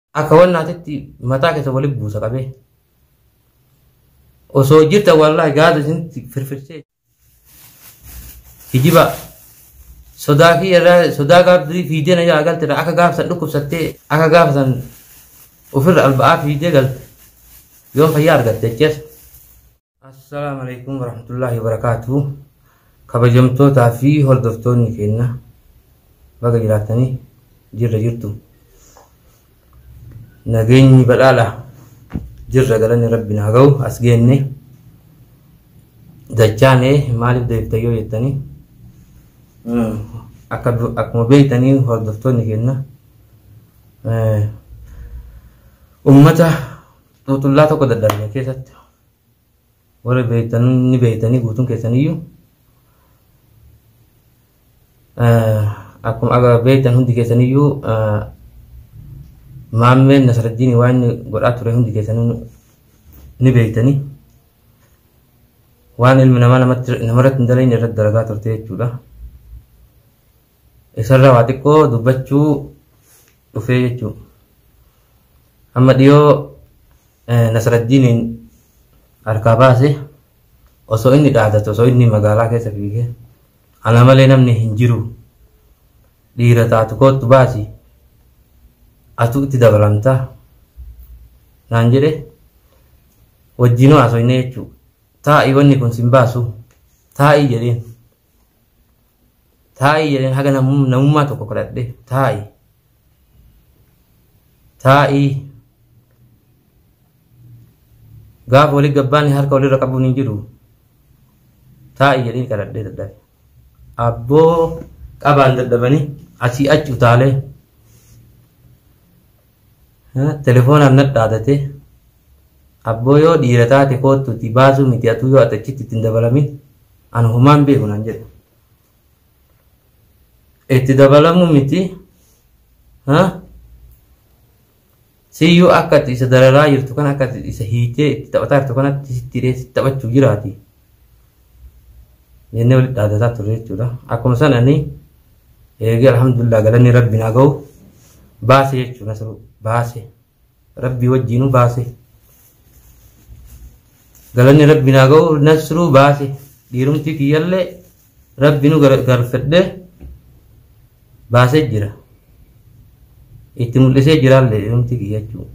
Akka wan naatitti mataa keessa wali buusa qabee. Osoo jirta wallahi gaada isinitti firfirsee. Hijiba sodaa kiyya irraa sodaa gaaf durii fiidee na jalaa galte irraa akka gaafa san dhukkubsattee akka gaafa san ofirra alba'aa fiidee galte yoon fayyaa argatte jees. Assalaamu alaikum warahmatullaahi wabarakaatuh kabajamtootaa fi hordoftoonni keenya baga jiraattanii jirra jirtu nageenyi badhaadha jirra galanni rabbi naa ga'u as geenne dachaane maaliif deebita yoo jettanii mm, akka du- akkuma beektanii hordoftoonni keenya eh, ummata xuuxullaa tokko dadhabne keessatti warri beektan ni beektanii guutuun keessaniyyuu akkuma aga beektan hundi keessaniyyuu maammeen Nasraddiin waan inni godhaa ture hundi keessanuu ni beektanii waan ilmi namaa namarratti hin dalagne irratti dalagaa turte jechuudha. Isarraa waa xiqqoo dubbachuu dhufee jechuu. Amma dhiyoo Nasraddiiniin harkaa baase osoo inni dhaadatu osoo inni magaalaa keessa fiigee ana malee namni hin jiru dhiira taatu koottu baasi atu itti dabalamta naan jedhe wajjinuu haasofne jechuu taa'ii wanni kun sin baasu taa'ii jedheen. taa'i jedheen haga namum- namummaa tokko kadhadhe taa'i taa'i gaafa wali gabbaanni harka walirra qabuun hin jiru taa'i jedheen kadhadhe dadhabe abboo qabaan dadhabanii asii achi utaalee Telefoonaan nadhaadate. Abboo yoo dhiira taate koottuutii baasuu miti atuu yoo ati achitti itti hin dabalamin ani homaan beeku naan jedhe. Itti dabalamuu miti siyyuu akka ati isa dararaa jirtu kana akka ati isa hiitee itti taphataa jirtu kanatti sitti hidhee sitti taphachuuf jiraati. jennee walitti dhaadataa turre jechuudha. Akkuma san ani eegee alhamdulillah galanni rabbi naa gahu baase jechuudha nasru baase rabbi wajjiinu baase galanni rabbi naa gahu nasru baase dhiirumti kiyyallee rabbi nu garfadhe baasee jira itti mul'isee jiraallee dhiirumti kiyya jechuudha.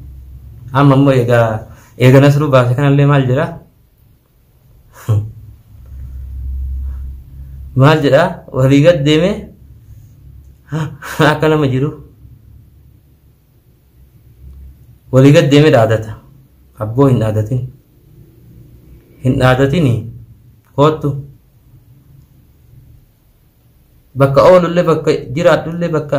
Amma immoo egaa eega nasru baase kanallee maal jedhaa? maal jedhaa walii gad deeme akka nama jiru walii gad deeme dhaadata abboo hin dhaadatin hin dhaadatini koottu bakka oolullee bakka jiraadhullee bakka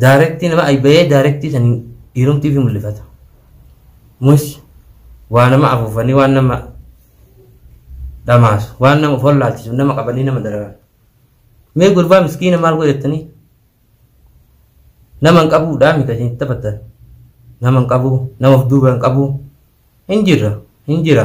Daarektii nama ayba'ee daarektii saniin dhiirumtii ofii mul'ifata. Mus waa nama afuufanii waan nama dhamaasu waan nama of hollaalchisu nama qabanii nama dararan. Mee gurbaa miskiina maal godhattanii? Nama hin qabuudhaa mika isin taphatan. Nama hin qabu nama of duuba hin qabu hin jirra hin jira.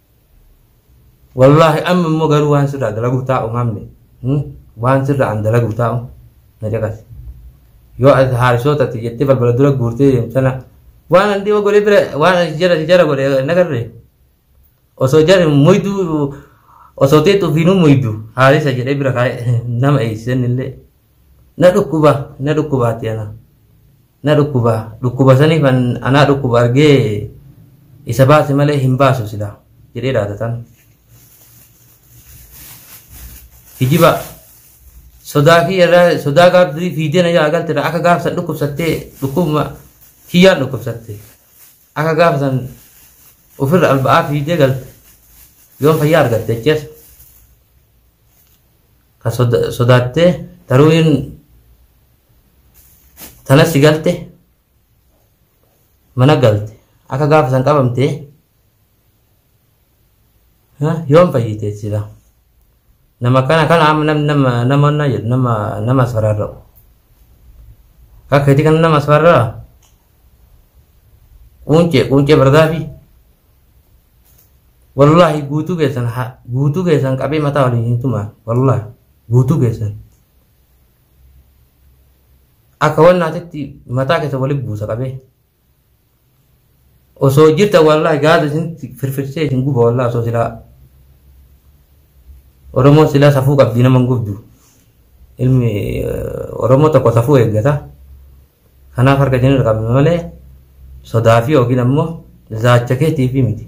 Wallaahi amma immoo garuu waan sirraa dalaguuf taa'u maamne waan sirraa an dalaguuf taa'u na caqasi. Yoo ati haarisoota ati jettee balbala dura guurtee deemtana waan an dhiyoo godhee bira waan an jara si jara godhe nagarre osoo jara muyduu osoo teetu ofiinuu muydu haarisa jedhee bira kaa'e nama eeysisan illee na dhukkuba na dhukkubaati ana. na dhukkuba dhukkuba saniif anaa dhukkuba argee isa baase malee hin baasu silaa jedhee dhaadatan. Hijiba sodaa kiyyarraa sodaa gaaf durii fiidee na jalaa galtedha akka gaaf san dhukkubsattee dhukkubuma kiyyaan dhukkubsatte akka gaaf san ofirra alba'aa fiidee galte yoon fayyaa argatte jechuudha. ka soda- sodaattee taruuyin tana si galte mana galte akka gaafa san qabamte ha, yoom fayyite sila nama kana kana amma nam- nama nama na jedhu nama nama asfararra'u akka itti kana nama asfarraa Quuncee quuncee bardaafii. Wallaahi guutuu keessan ha- guutuu keessan qabee mataa waliin hin tumaa. Wallaahi guutuu keessan. Akka wannaatitti mataa keessa waliin buusa qabee. Osoo jirta wallaahi gaada isinitti firfirsee isin guba wallaahi osoo silaa. Oromoo silaa safuu qabdi nama hin gubdu. Ilmi eh, Oromoo tokko safuu eeggata. Kanaaf harka isin irra qabna malee sodaa fi yookiin ammoo zaacha keetiif miti.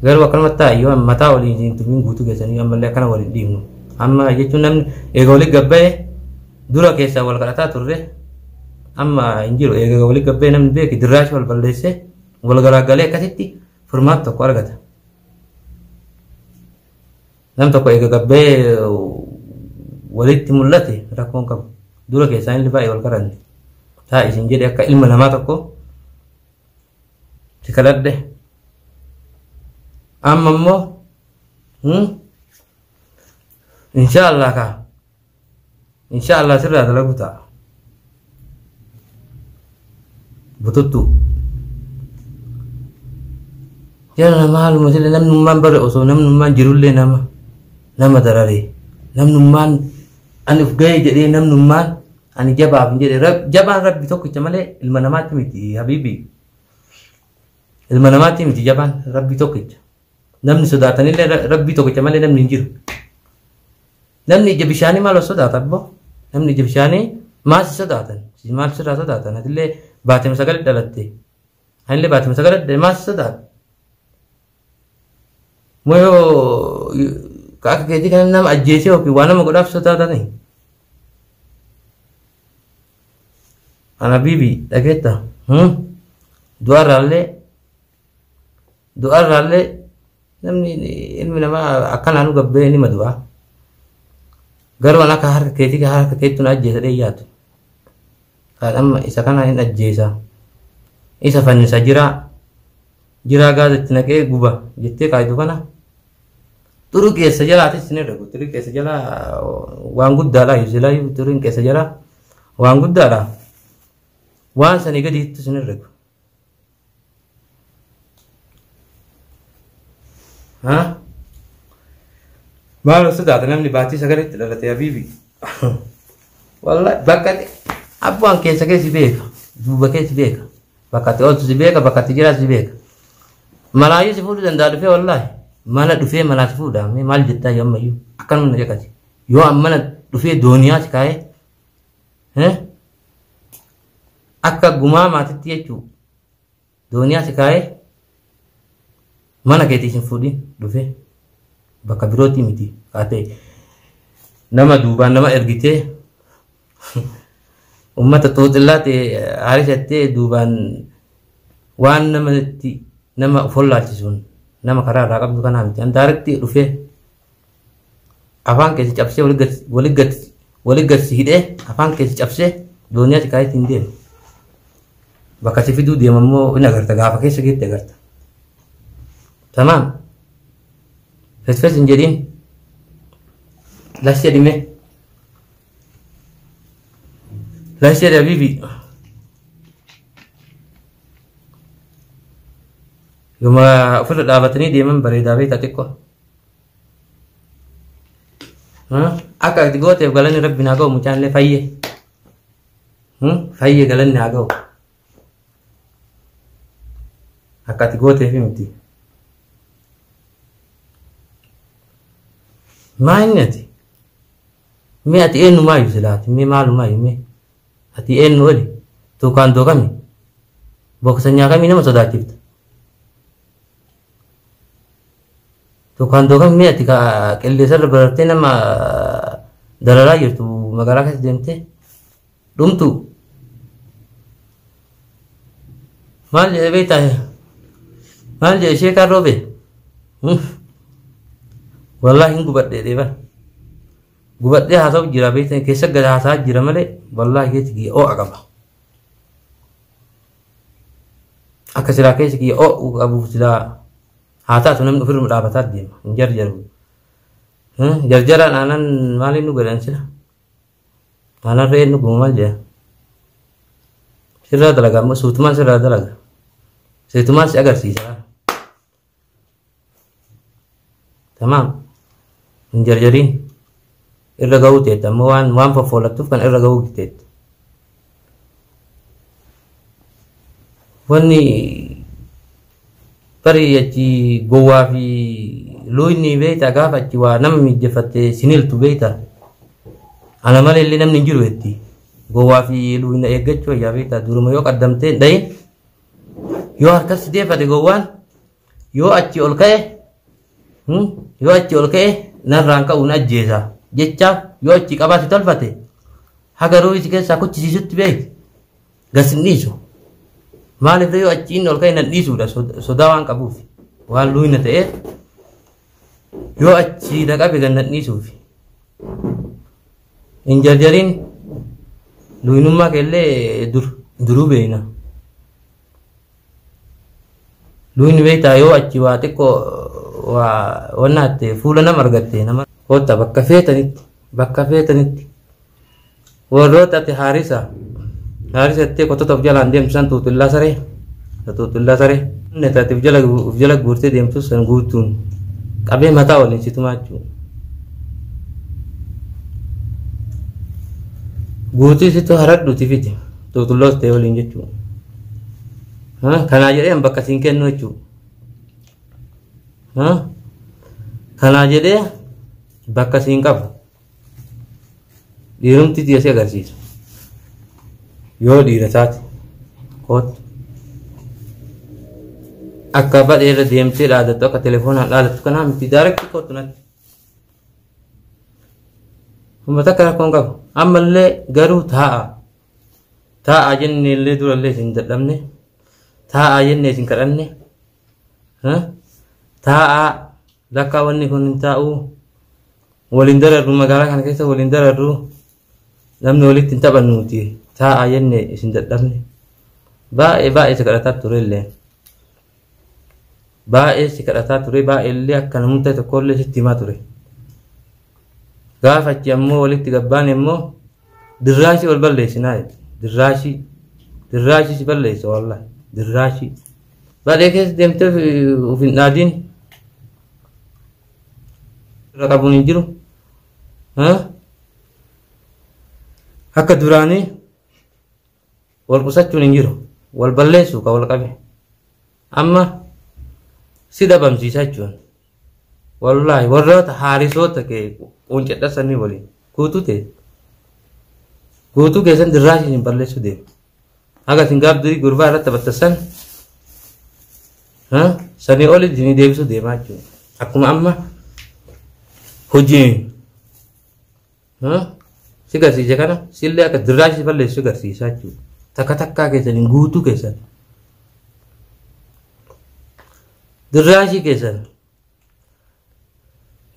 Garuu akkanumatti taa'e yoo mataa waliin isin tumin guutuu keessanii ammallee akkana waliin dhiifnu. Amma jechuun namni eega walitti gabba'e dura keessaa wal kadhataa turre amma hin jiru eega walitti gabba'e namni beeki dirraashi wal balleessee wal garaagalee akkasitti furmaata tokko argata. Nam tokko eega gabbee walitti mul'ate rakkoon qabu. Dura keessaa inni baay'ee wal qaranne. Taa isin jedhe akka ilma namaa tokko si kadhadhe. Amma immoo insha Allah kaa insha allah sirraa dalagu ta'a bututtuu jala maaluma sila namnummaan bare osoo namnummaan jirullee nama nama dararee namnummaan ani uf ga'ee jedhee namnummaan ani jabaaf hin jedhe Rab- jabaan rabbi tokkicha malee ilma namaatti miti habiibi ilma namaatti miti jabaan rabbi tokkicha Namni sodaatanillee ra- rabbii tokkicha malee namni hin jiru. Namni ija bishaanii maal of sodaata abboo? Namni ija bishaanii maal si sodaatan? Si maal sirraa sodaatan? Atillee baatee sagalee dhalatte. Anillee baatee sagalee dhalatte maal si sodaata? Moo yoo ka akka keetii kana nama ajjeesee yookiin waa nama godhaaf sodaatanii? Ana bibi dhageetta. Hmm? Du'a irraallee Du'a irraallee namni ilmi namaa akkanaan gabbee nima du'a. Garuu an akka harka keetii kan harka keetti na ajjeesa dhee yaadu. Kan amma isa kana hin ajjeesa. Isa fannisa jiraa. Jiraa gaaza itti naqee guba jettee kaayidu kana. Xuru keessa jalaatis isin irra guutu. Xuru keessa jalaa waan guddaadha. Yuusilaa yuu xuru keessa jalaa waan guddaadha. Waan sanii gadiitti isin irra guutu. Maal osoo taate namni baatii sagalitti dhalate habiibi. Walla bakka abbaan keessa keessi beeka. Duuba keessi beeka. Bakka itti ooltu si beeka bakka itti jiraatu si beeka. Malaayyuu si fuudhuu danda'a dhufee wallaahi. Mala dhufee malaa si fuudhaa mee maal jettaa yoo ammayyuu akkanuma na jeqati. Yoo ammana dhufee dooniyaa si kaa'ee. akka gumaa maatitti jechuu dooniyaa si kaa'ee mana keetii sin fuudhin dhufee bakka birootii miti kaatee nama duubaan nama ergitee ummata xuuxillaa ta'e haarishattee duubaan waan namatti nama of hollaalchisuun nama karaa irraa qabdu kanaa miti an daaretti dhufee afaan keessi cabsee wali gadsi hidhee afaan keessi cabsee dooniyaa xiqqaayitti hin deemu. Bakka si fiduu deema immoo in agarta gaafa keessa geetti agarta. Tamaam. Fesfes hin jedhiin. Lash jedhime. Lash jedhe habiibi. Yoma ofirra dhaabatanii deeman bareedaa beektaa xiqqoo. Akka itti gooteef galanni rabbi naa ga'u mucaan illee fayye. Fayye galanni naa ga'u. Akka itti gooteef miti. Maa inni ati? Mee ati eenyumaa iyyuu silaati? Mee maalumaa iyyuu mee? Ati eenyu oli? Tuukaan dookami? Booksanyaa kamii nama sodaachifta? Tukaan tukaan mee ati kaa qilleensarra barartee nama dararaa jirtu magaalaa keessa deemtee dhumtu maal jedhe beektaa maal jedhe ishee kaan roobe wallaahi hin gubadhe deeba gubadhee haasa'u jira beektaa keessa gad haasa'aa jira malee wallaahi keessa kiyya oo'a qaba akka silaa keessa kiyya oo'u qabuuf silaa haa taatu namni ofirra dhaabataa deema hin jarjaru jarjaraan aanan maaliin nu godhan sila aanan re'een nu gumu maal jedhan sirraa dalaga ammoo suutumaan sirraa dalaga suutumaan si agarsiisa tamaam hin jarjariin Irra ga'uu teetta amma waan waan foffoolattuuf kan irra ga'uu teetta. Wanni tarii achi gowwaa fi luuyni beektaa gaafa achi waa nama miijjefatte siniltu beektaa. Ana malee illee namni hin jiru jetti. Gowwaa fi luuyna eeggachuu wayyaa beektaa duruma yoo qaddamtee hin dhayin yoo harkas deeffate gowwaan Yoo achi ol ka'e hmm, yoo achi ol ka'e narraan ka'uun ajjeesa jecha yoo achi qabaate tolfate haga ruuhii si keessaa kuchisiisutti beeki gas hin dhiisu. Maaliif yoo achi inni ol ka'e nan dhiisuudha sod- sodaa waan qabuuf waan luuyna ta'eef yoo achi na qabe gan nan dhiisuuf. Hin jarjariin luuynummaa keellee dur duruu beekna. Duuni beektaa yoo achi waa xiqqoo waa wannaatte fuula nama argatte nama kootta bakka feetanitti bakka feetanitti warroota ati haarisa haarisa ittee qottota of jalaan deemtu san xuuxillaa saree xuuxillaa saree inni ati of jala of jala guurtee deemtu san guutuun qabee mataa waliin si tumaa jechuudha. Guutii situ haradhuuti fite. qulqulloos ta'e waliin jechuudha. Kanaa jedhee bakka siin kennu jechuudha. Kanaa jedhee bakka siin qabu dhiirumti dhiyeessee agarsiisa. Yoo dhiira taate kootu akka badhee irra deemtee dhaadattu akka telefoonaan dhaadattu kanaa miti daarekti kootu natti. Humna takka rakkoo hin qabu. Ammallee garuu taa'a. Taa'a jennee illee durallee isin dadhabne. Taa'a jennee isin kadhanne. Taa'a lakkaa wanni kun hin taa'u. Waliin dararru magaalaa kana keessa waliin dararru. Namni walitti hin taphannuuti. Taa'a jennee isin dadhabne. Baay'ee baay'ee isa kadhataa turellee. baay'ee si kadhataa ture baay'eellee akka namumtee tokkollee sitti himaa ture gaafa achi ammoo walitti gabbaan immoo dirraashii wal balleessinaa jedhe dirraashii dirraashii si balleessa wallah dirraashii baadhee keessa deemtee of hin dhaadiin irra qabuun hin jiru akka duraanii Wal qusachuun hin jiru. Wal balleessuu ka wal qabe. Amma si dhabamsiisa jechuun. Wallaahi warroota haarisoota kee quuncadha sanii waliin guutuu ta'e. Guutuu keessan dirraasii hin balleessuu deema. Haga isin gaaf durii gurbaa irratti taphattassan sanii oli isin deebisuu deemaa jechuudha. Akkuma amma hojiin Hmm? Si garsiise kana sillee akka dirraa si balleessu si garsiisaa jechuudha. Takka takkaa keessan hin guutuu keessan. Dirraa ishii keessan.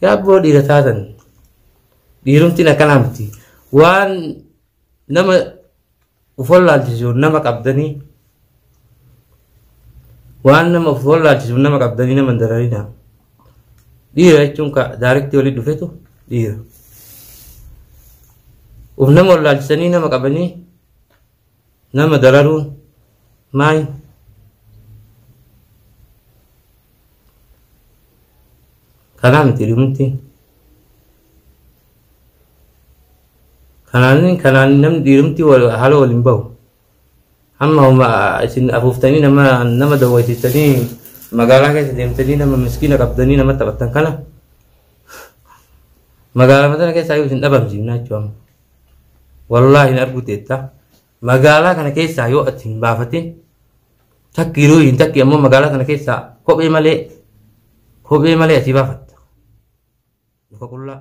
Yaa abboo dhiira taatan. Dhiirumtiin akkanaa miti. Waan nama Of wallaalchisu nama qabdanii waan nama of wallaalchisu nama qabdanii nama hin dararinaa. Dhiira jechuun ka daarektii waliin dhufetu dhiira. Of nama wallaalchisanii nama qabanii nama dararuun maal kanaa miti dhumti. Kanaan kanaan namni dhiirumti haala wal hin bahu. Amma homa isin afuuftanii nama nama dawwaisiftanii magaalaa keessa deemtanii nama miskiina qabdanii nama taphattan kana magaalaa sana keessaa yoo isin dhabamsiifnaa jechuudha amma. Wallaahi hin arguu teetta. Magaalaa kana keessaa yoo ati hin baafatin takki yeroo hin takki ammoo magaalaa kana keessaa kophee malee kophee malee asii baafatta. Muka qullaa.